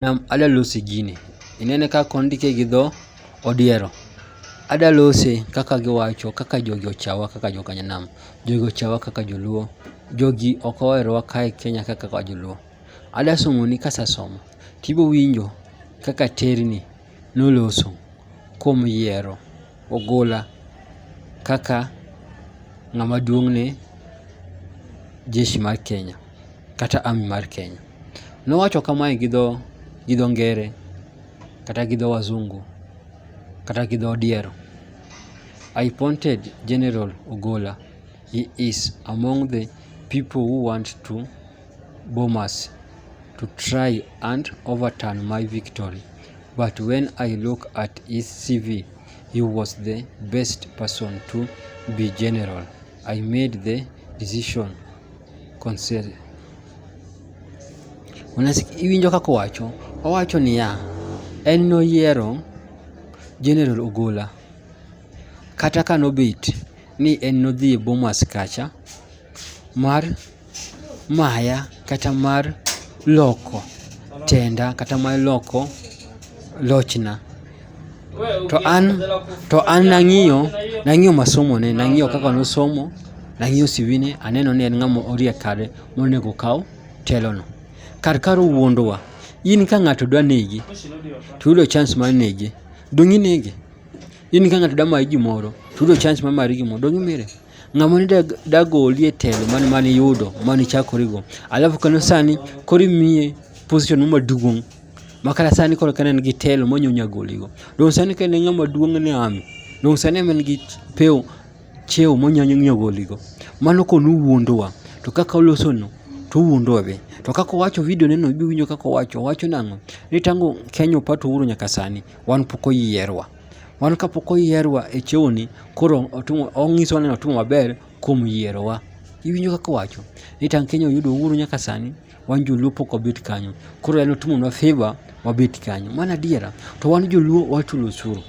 Nam adwa loso gini. Inene kaka ondike gi dho odiero. Adwa lose kaka giwacho kaka jogi ochawa kaka joka nyanam. Jogi ochawa kaka joluo. Jogi ok oherowa kae Kenya ka kaka joluo. Adwa somo ni kasesomo to ibiro winjo kaka aterni noloso kuom yiero ogola kaka ng'ama duong' ne jeshi mar Kenya kata army mar Kenya. Nowacho kamae gi dho gi dho ngere kata gi dho wazungu kata gi dho odiero. I pointed General Ogola, he is among the people who want to bomb us to try and overturn my victory but when I look at his CV he was the best person to be general. I made the decision Consider. Iwinjo kaka owacho? Owacho niya, en noyiero General Ogola kata ka nobet ni en nodhi e Bomas kacha mar maya kata mar loko tenda kata mar loko lochna. to an to an nang'iyo nang'iyo masomone nang'iyo kaka nosomo nang'iyo sivine aneno ni en ng'ama oriek kare monego kaw telono kar kar wuondowa in ka ng'ato dwa negi to yudo chance mar nege dong' inege in ka ng'ato dwa mayi gimoro to yudo chance mar mayi gimoro dong' imire ng'ama ne dagoli e telo mane mane iyudo mane ichakorigo alafu kano sani koro imiye position maduong' ma kara sani koro ka ne en gi telo ma onyonyo agoligo. Donge sani ka en e ng'ama duong' ni ami? Donge sani ema en gi pew chiewo ma onyalo nyiewo agoligo? Mano ka ne owuondowa to kaka olosono to owuondowa be. To kaka owacho video ne no ibiro winjo kaka owacho. Owacho nang'o? Ni tangu Kenya opa to uhuru nyaka sani wan pok oyierwa. Wan ka pok oyierwa e chiewo ni koro onyisowa ni otimo maber kuom yierowa. Iwinjo kaka owacho ni tangu Kenya oyudo uhuru nyaka sani. wan joluo pok wabet kanyo koro en otimonwa favor wabet kanyo mano adiera to wan joluo wachulo osuru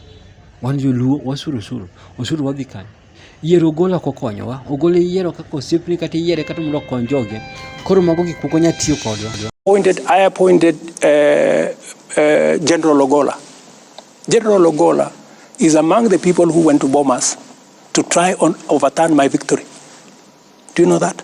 wan joluo wasuru osuru osuru wadhi kanyo yiero ogolo ok okonyowa ogolo yiero kaka osiepni kata iyiere kata mondo okony joge koro mago gik moko nyalo tiyo kodwa appointed, I appointed uh, uh, General Ogola. General Ogola is among the people who went to Bomas to try and overturn my victory. Do you know that?